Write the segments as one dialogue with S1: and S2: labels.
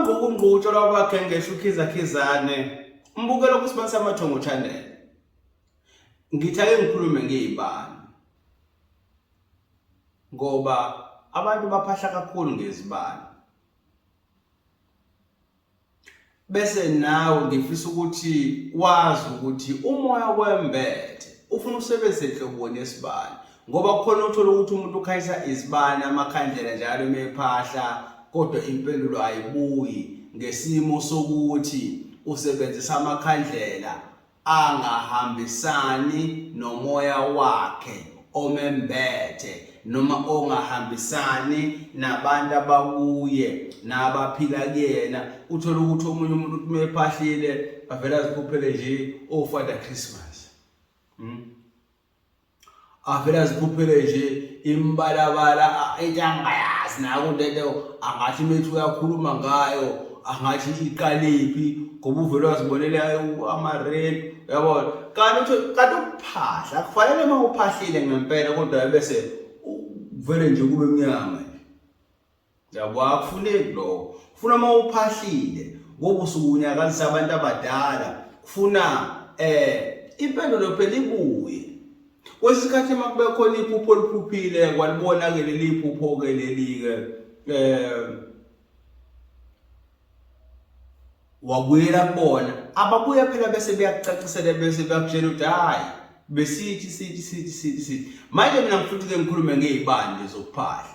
S1: Ngokungqutshwa lwabakhengesha uKhiza Khizane umbukelo kuSibani Samathongo Channel. Ngithi ake ngikhulume ngezibani. Ngoba abantu baphahla kakhulu ngezibani. Bese nawe ngifisa ukuthi wazi ukuthi umoya kwembethe ufuna usebenzise nhlobo nesibani. ngoba kukhona uthola ukuthi umuntu ukhanyisa izibani amakhandlela njalo mephahla kodwa impendulo ayibuyi ngesimo sokuthi usebenzisa amakhandlela angahambisani nomoya wakhe omembethe noma ongahambisani nabantu abakuye nabaphila kuyena uthole ukuthi omunye umuntu uthi mephahlile avela azikhuphele nje ofada oh, christmas hmm? avele azikhuphele nje imibalabala into angayazi nayo lento angathi methi uyakhuluma ngayo angathi iqaliphi ngoba uvele wazibonele ama-rape yabona kanti uthi kanti ukuphahla kufanele uma uphahlile ngempela kodwa bese vele nje kube mnyama Yabo akufuneki lokho. Kufuna uma uphahlile ngoba usuke unyakazisa abantu abadala. Kufuna eh impendulo phela ibuye. Kwesikhathi uma kube khona iphupho oliphuphile kwalibona ke leli phupho ke leli ke eh wabuyela kubona ababuye phela bese beyakucacisela bese beyakutshela ukuthi hayi besithi sithi sithi sithi sithi manje mina ngifuna ukuthi ke ngikhulume ngezibande zokuphahla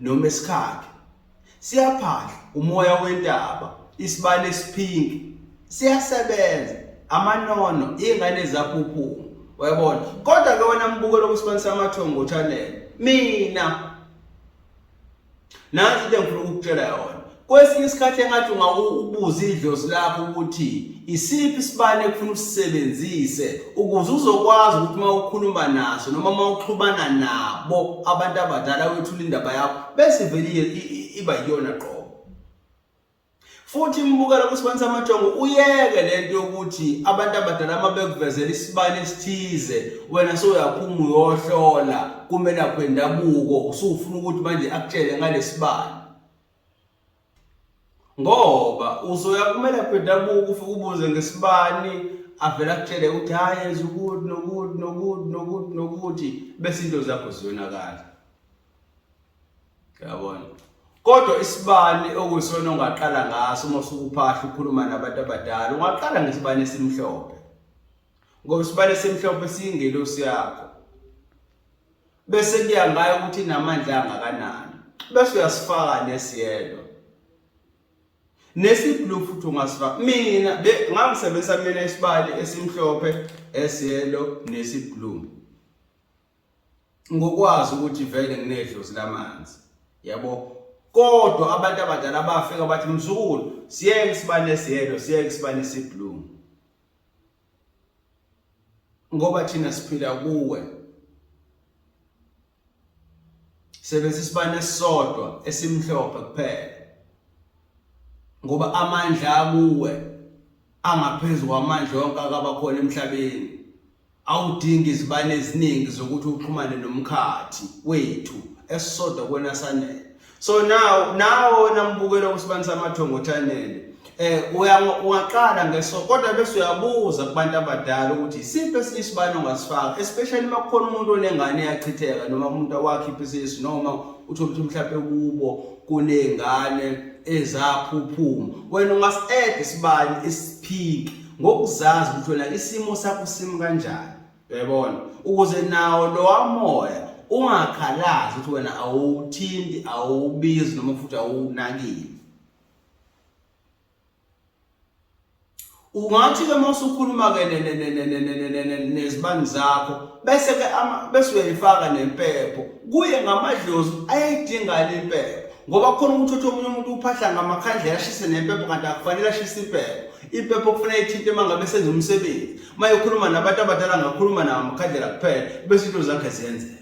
S1: noma esikhakhe siyaphahla umoya wentaba isibali esiphinki siyasebenza amanono ingane zaphuphuma uyabona kodwa ke wena mbukelo kusibani samathongo channel mina nazi into engifuna ukukutshela yona Kwesinye isikhathi engathi ungawubuza idlozi lakho ukuthi isiphi isibani ekufuna usisebenzise ukuze uzokwazi ukuthi uma ukhuluma naso noma uma uxhumana nabo abantu abadala wethula indaba yakho bese vele iba yiyona qobo futhi imbukela kusibani samajongo uyeke lento yokuthi abantu abadala uma bekuvezela isibani esithize wena soyaphuma uyohlola kumelaphi wendabuko usufuna ukuthi manje akutshele ngalesibani ngoba uzoya kumele kwendabuko ufike ubuze ngesibani avele akutshele ukuthi hhayi yenza ukuthi nokuthi nokuthi nokuthi nokuthi bese into zakho ziyonakala yabona kodwa isibani okuyisona ongaqala ngaso uma usukuphahla ukhuluma nabantu abadala ungaqala ngesibani esimhlophe ngoba isibani esimhlophe siyingelosi yakho bese kuya ngayo ukuthi inamandla angakanani bese uyasifaka nesiyelo nesiblue futhi ungasifaka mina ngangisebenzisa mina isibali esimhlophe esiyelo nesiblue ngokwazi ukuthi vele nginedlozi lamanzi yabo kodwa abantu abadala bafika bathi mzukulu siyeke isibani esiyelo siyeke isibani esiblue ngoba thina siphila kuwe sebenzisa isibane esisodwa esimhlophe kuphela ngoba amandla akuwe angaphezulu kwamandla onke akabakhona emhlabeni awudingi izibane eziningi zokuthi uxhumane nomkhathi wethu esisodwa kwena sanele so now nawo wena mbukelo wesibani samathongo chanele eh uyaqala ngeso kodwa bese uyabuza kubantu abadala ukuthi isiphi esinye isibani ongasifaka especially uma kukhona umuntu onengane yachitheka noma umuntu awakhipha isisu noma uthi ukuthi mhlawumbe kubo kunengane ezaphuphuma wena ungasadd isibani isiphiki ngokuzazi ukuthi wena isimo sakho simi kanjani Uyabona? Ukuze nawo lowa moya ungakhalazi ukuthi wena awuthinti, awubizi noma futhi awunakile. Ungathi ke mase ukhuluma ke nezibani zakho bese ke bese uyayifaka nempepho kuye ngamadlozi ayayidinga le mpepho ngoba khona ukuthi uthi omunye umuntu uphahla ngamakhandlela ashise nempepho kanti akufanele ashise impepho impepho kufanele ithinte uma ngabe senza umsebenzi uma ekhuluma nabantu abadala ngakhuluma nawo amakhandlela kuphela bese into zakhe ziyenzeka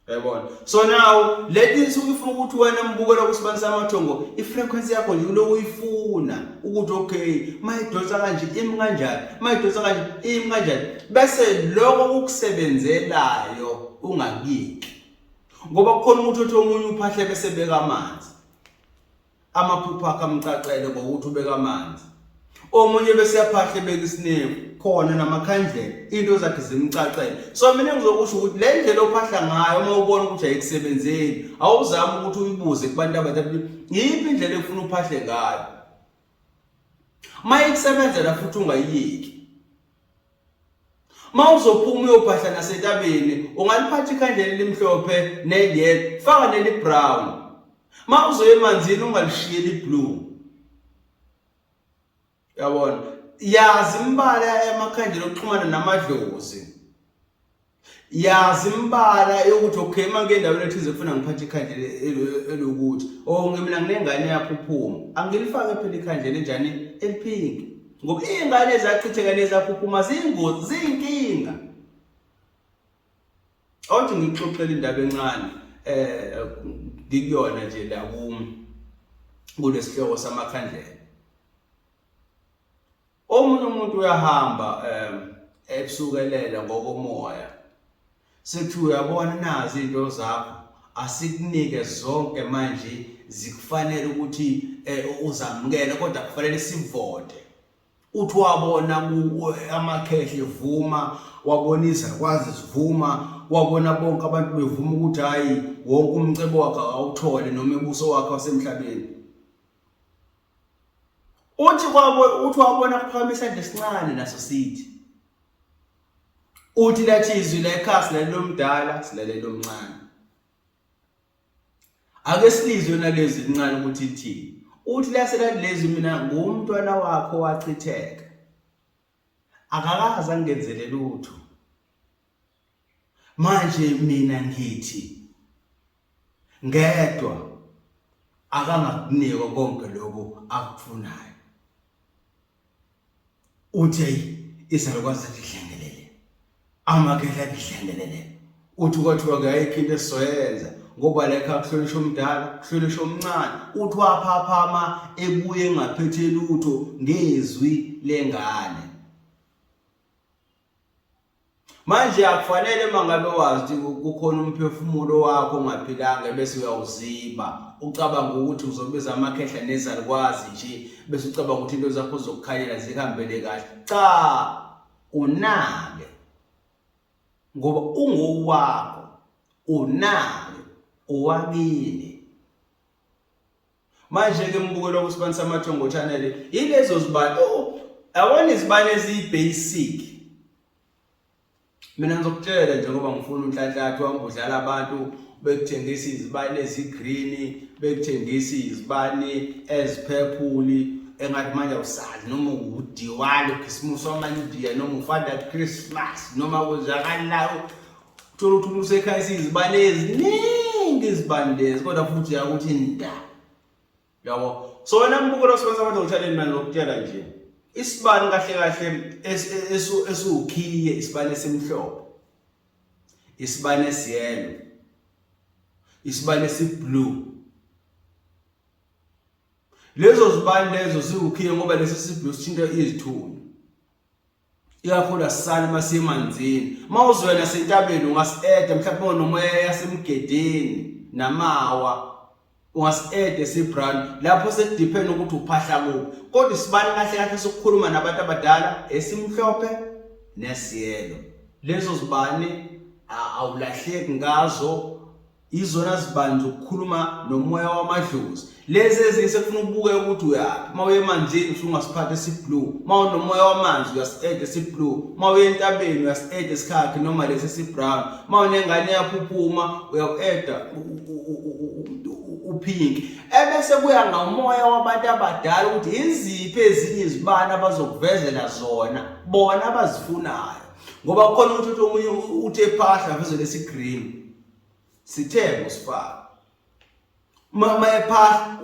S1: yayibona so now leti nsuku ifuna ukuthi wena mbukela ukusibanisa amathongo i-frequency yakho nje kuloku uyifuna ukuthi okay mayidonsa kanje imi kanjani mayidonsa kanje imi kanjani bese loko kukusebenzelayo ungakiki ngoba kukhona ukuthi othi omunye uphahle bese beka amanzi Amaphupho akhe amcacele ngokuthi ubeka amanzi. Omunye bese yaphahle beka isinevu khona namakhandlela into zakhe zimcacele. So mina ngizokusho ukuthi le ndlela ophahla ngayo uma ubona ukuthi ayikusebenzeli awuzami ukuthi uyibuze kubantu abadala yiphi indlela efuna uphahle ngayo. Uma ikusebenzela futhi ungayiyeki. Uma uzophuma uyobhadla nasentabeni ungaliphatha ikhandlela elimhlophe neliyelo faka nelibrown. Uma uzoya emanzini ungalishiye liblue. Yabona? Yazi imibala yamakhandlela okuxhumana namadlozi. yazi imbala yokuthi okay uma ngike endaweni ethize kufuna ngiphathe ikhandlela elokuthi or oh, mina nginengane yakho uphuma angilifake phela ikhandlela enjani eliphinki ngoba iy'ngane ezachitheka nezaphuphuma ziyingozi ziyinkinga othi ngikuxoxela indaba encane um ngikuyona nje la kumi kulesihloko samakhandlela Omunye umuntu uyahamba um ebusukelela ngokomoya sethi uyabona nazi into zakho asikunike zonke manje zikufanele ukuthi eh, uzamukele kodwa kufanele sivote uthi wabona amakhehle vuma wabona izakwazi zivuma wabona bonke abantu bevuma ukuthi hayi wonke umcebo wakhe awuthole noma ebuso wakhe wasemhlabeni uthi kwabo uthi wabona kuphakama isandla esincane naso sithi uthi lathi izwi la ekhaya silalela omdala silalela omncane ake silizwe nalezi lincane ukuthi lithini uthi laselalezi mina ngumntwana wakho wachitheka akakaze angenzelele utho manje mina ngithi ngedwa akangakunikwa konke lokho akufunayo uthi izalukwazi zidlengelele amakhehla adlengelele uthi kwathiwa kuyayikho into esizoyenza ngoba lekha kuhlonishwa omdala kuhlonishwa omncane uthi waphaphama ebuye engaphethe lutho ngezwi lengane Manje akufanele mangabe wazi kukhona umphefumulo wakho ongaphilanga bese uyawuziba ucabanga ukuthi uzobiza amakhehla nezalukwazi nje bese ucabanga ukuthi into zakho zokukhalela zihambele kahle cha unake ngoba ungowakho unake owakini Manje-ke umbukelwa kwisibantu samathongo channel yilezo zibani oh, awona izibani eziyi-basic mina ngizokutshela nje ngoba ngifuna unhlanhlathu wami udlala abantu bekuthengisa izibani ezi-green bekuthengisa izibani eziphephuli engathi manje awusali noma udiwali ukhisimusi wamanye udiya noma ufather christmas noma kwenzakalinayo thola ukuthi umuntu usekhayisa izibani eziningi izibani lezi kodwa futhi uyakuthi nda yabo so wena mbukelo osebenzisa abantu ngithaleni manje ngokutshela nje isibani kahle kahle esiwukhiye isibani esimhlophe isibani esiyelo isibani esiblue lezo zibani lezo siwukhiye ngoba lesi siblue sithinta izithunzi ikakhulu asisali masiyemanzini mawuzwela sentabeni ungasieda mhlawumbe onomoya yasemgedeni namawa ungasiede sibrand lapho sekudepend ukuthi uphahla kuphi kodwa isibani kahle kahle sokukhuluma nabantu abadala esimhlophe nesiyelo lezo zibani awulahleki ngazo izona zibanzi ukukhuluma nomoya wamadlozi lezi ezinye sekufuna ukubuke ukuthi uyaphi uma uye emanzini usungasiphatha esiblue uma unomoya wamanzi uyasi-ede esiblue uma uye entabeni uyasi-ede esikhakhi noma lesi esibrown uma unengane yaphuphuma uyaku-eda upink ebese kuya ngomoya wabantu abadala ukuthi yiziphi ezinye izibani abazokuvezela zona bona abazifunayo ngoba kukhona ukuthi omunye uthe phahla veze lesigreen sithe ngosifaka mama ephahla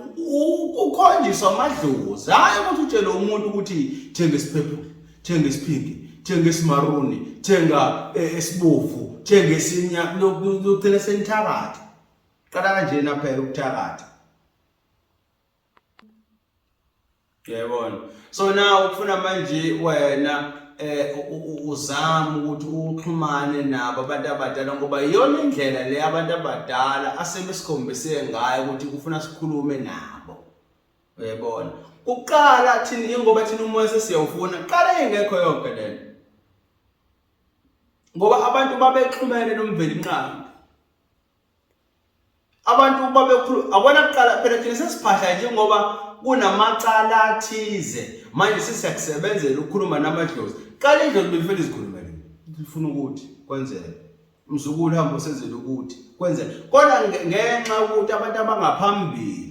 S1: ukhonjiswa amadlozi hayi ukuthi utshele umuntu ukuthi thenga isiphephulo thenga isiphingi thenga isimaruni thenga esibovu eh, thenga esinya lokugcina senithakatha qala kanjena phela ukuthakatha Yayibona. So now ukufuna manje wena eh uzama ukuthi uxhumane nabo abantu abadala ngoba iyona indlela le abantu abadala asebesikhombise ngayo ukuthi kufuna sikhulume nabo. Uyabona? Uqala thina ingoba thina umoya sesiyawufuna, qala ingekho yonke lento. Ngoba abantu babexhumene nomveli nqangi. abantu uma bekhuluma akona kuqala phela thina sesiphahla njengoba kunamacala athize manje sisekusebenzela ukukhuluma namadlozi qala indlozi befela izikhulumele lifuna ukuthi kwenzeke mzukulu hamba usenzele ukuthi kwenzeke kodwa ngenxa yokuthi abantu abangaphambili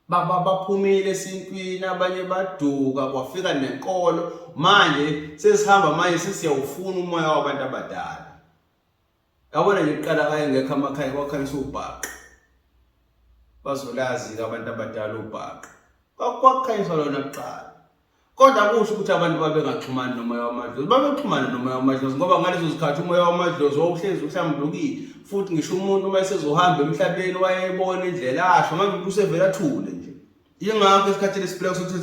S1: baba baphumile esintwini abanye baduka kwafika nenkolo manje sesihamba manje sesiyawufuna umoya wabantu abadala Yabona nje kuqala kaye ngekho amakhaya kwakhanyisa ubhaqa. Bazolazi ke abantu abadala ubhaqa. Kwakukhanyiswa lona kuqala. Kodwa kusho ukuthi abantu babengaxhumani nomoya wamadlozi. Babexhumana nomoya wamadlozi ngoba ngalezo zikhathi umoya wamadlozi wawuhlezi uhlambulukile. Futhi ngisho umuntu uma esezohamba emhlabeni wayebona indlela asho manje umuntu usevela athule nje. Yingakho esikhathini esiphila kusuthi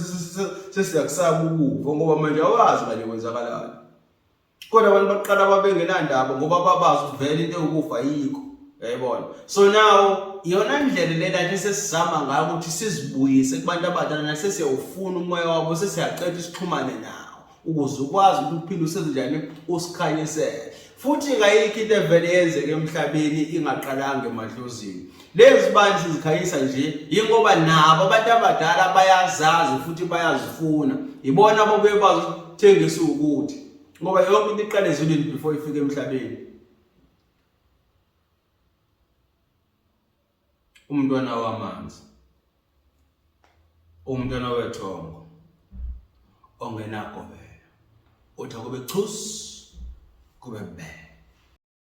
S1: sesiyakusaba ukufa ngoba manje awazi kanye kwenzakalayo. kodwa abantu baqala babengenandaba ngoba babazi ukuthi vele into ewukufa yikho yayibona so now iyona ndlela le lathi esesizama ngayo ukuthi sizibuyise kubantu abadala nasesiyawufuna umoya wabo sesiyaqeda isixhumane nawo ukuze ukwazi ukuthi uphinde usenzenjani usikhanyisele futhi kayikho into evele yenzeke emhlabeni ingaqalanga emadlozini Lezi bandla zikhayisa nje yingoba nabo abantu abadala bayazazi futhi bayazifuna. Yibona ababuye bazithengisa ukuthi ngoba yonke into iqale ezulwini before ifike emhlabeni. Umntwana wamanzi. Umntwana wethongo ongenagobela. Uthi akube chus kube bele.